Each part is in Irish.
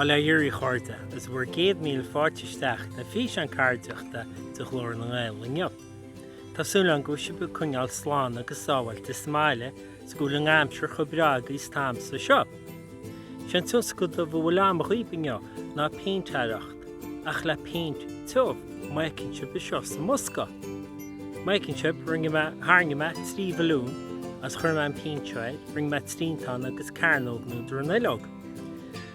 Bail ó Dhia oraibh a chairde agus bhur 100,000 fáilte isteach na físeáin ceardaíochta de Ghlór na nGael inniu. Tá súil agam go bhfuil sibh ag coinneáil slán agus sábháilte sa mbaile 'S go bhfuil an aimsir chomh breá agaibh 's tá agamsa anseo. Sé'n tionscadal a bhfuil agam dhaoibh inniu ná péintéireacht, ach le péint tiubh, má fheiceann sib anseo sa mbosca. Má fheiceann sib, rinne mé, tharraing mé trí bhalún agus chuir mé an péint air, rinne mé triantán agus cearnóg nó dronuilleog.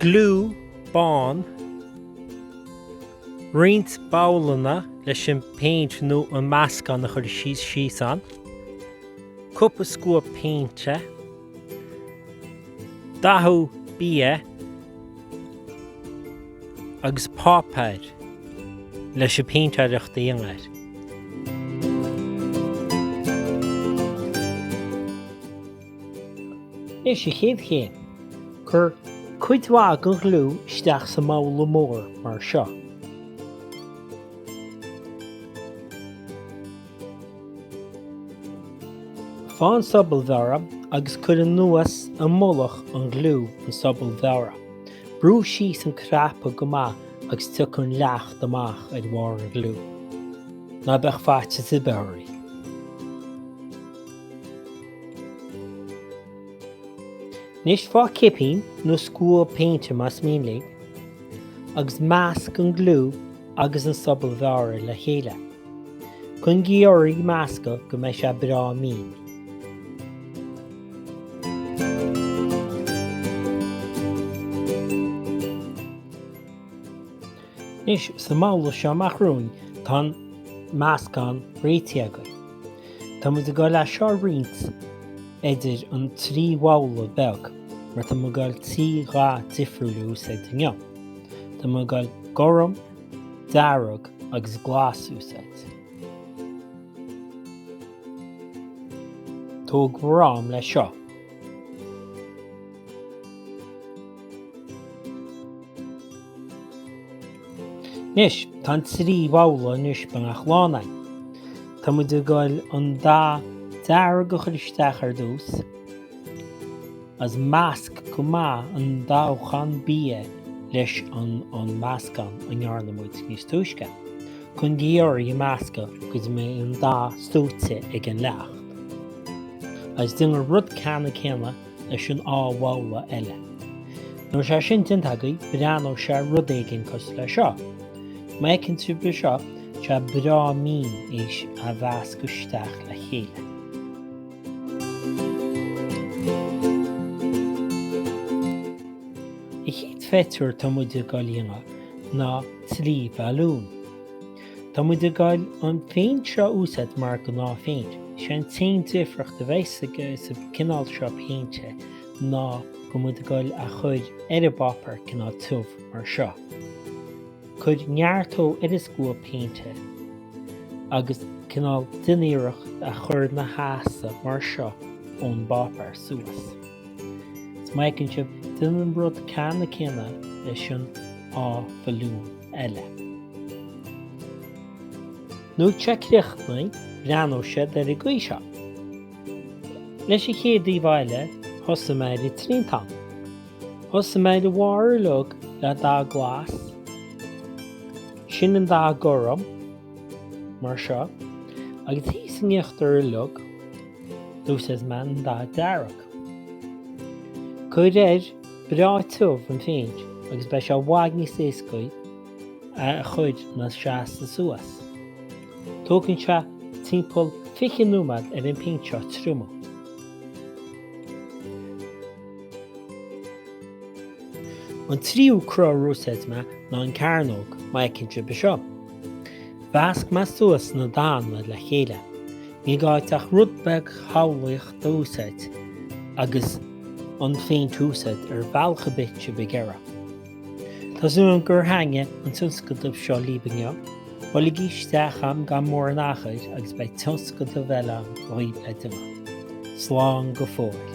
Gliú bán, Roinnt babhlanna leis an bpéint nó an meascán a chur síos ann. Cúpla scuab péinte. Dathú bia agus páipéar leis an bpéintéireacht a dhéanamh air. Leis an chéad chéim, cuir cuid mhaith den ghliú isteach sa mbabhla mór mar seo. Faigh an sobal bhearrtha agus cuir anuas i mullach an ghliú an sobal bhearrtha. Brú síos an cnaipe go maith agus tiocfaidh an leacht amach ar bharr an ghliú. Ná bíodh faitíos ar bith oraibh. Anois faigh cipín nó scuab péinte más mian libh, agus measc an gliú agus an sobal bhearrtha le chéile. Coinnígí oraibh ag meascadh go mbeidh sé breá mín. Anois, sa mbabhla seo amach romhainn, tá an meascán réitithe againn. Tá muid ag goil é seo a roinnt idir an trí bhabhla beag mar tá muid ag goil trí dhath difriúil a úsáid inniu. Tá muid ag goil gorm, dearg agus glas a úsáid. Tóg bhur am leis seo. Anois, tá an trí bhabhla anois beagnach lán againn. Tá muid ag goil an dath dearg a chur isteach ar dtús, agus measc go maith an dathúchán bia leis an meascán a ndearna muid níos túisce, coinnígí oraibh ag meascadh go dtí mbeidh an dath súite ag an leacht. Agus déan an rud ceanna céanna leis an dá bhabhla eile. Nuair atá sé sin déanta agaibh breathnóidh sé rud éigin cosúil le seo. Má fheiceann sibh anseo tá sé breá mín éis a mheascadh isteach le chéile. An chéad phictiúr tá muid ag goil a dhéanamh ná trí bhalún. Tá muid ag goil an phéint seo a úsáid mar ghnáthphéint. Is é an t-aon difríocht a bheas aige sa cineál seo péinte ná go bhfuil muid ag goil á chur ar an bpáipéar cineál tiubh mar seo. Cuir neart dó ar an scuab péinte agus cineál déan iarracht é a chur ina sheasamh mar seo ón bpáipéar suas. Is má fheiceann sibh, déan an rud ceannann céanna leis an dá bhalún. eile. Nuair atá sé críochnaithe, breathnóidh sé ar an gcaoi seo. Leis an chéad íomhá eile, thosaigh mé ar an triantán. Thosaigh mé ar an mbarr uilig le dath glas, ansin an dath gorm, mar seo, agus thíos in íochtar uilig, d'úsáid mé an dath dearg. Cuir air breá tiubh an phéint agus beidh sé i bhfad níos éasca é a chur ina sheasamh suas. Tógann sé timpeall 20 nóiméad ar an phéint seo triomú. An tríú cruth ar úsáid mé ná an chearnóg má fheiceann sibh anseo. Mheasc mé suas na dathanna le chéile. Ní gá dhuit ach rud beag samhlaíochta úsáid agus an phéint a úsáid ar bhealach ar bith atá sibh ag iarraidh. Tá súil agam gur thaitnigh an tionscadal seo libh inniu, buailigí isteach agam gan mórán achair agus beidh tionscadal eile ann dhaoibh le déanamh. Slán go fóill.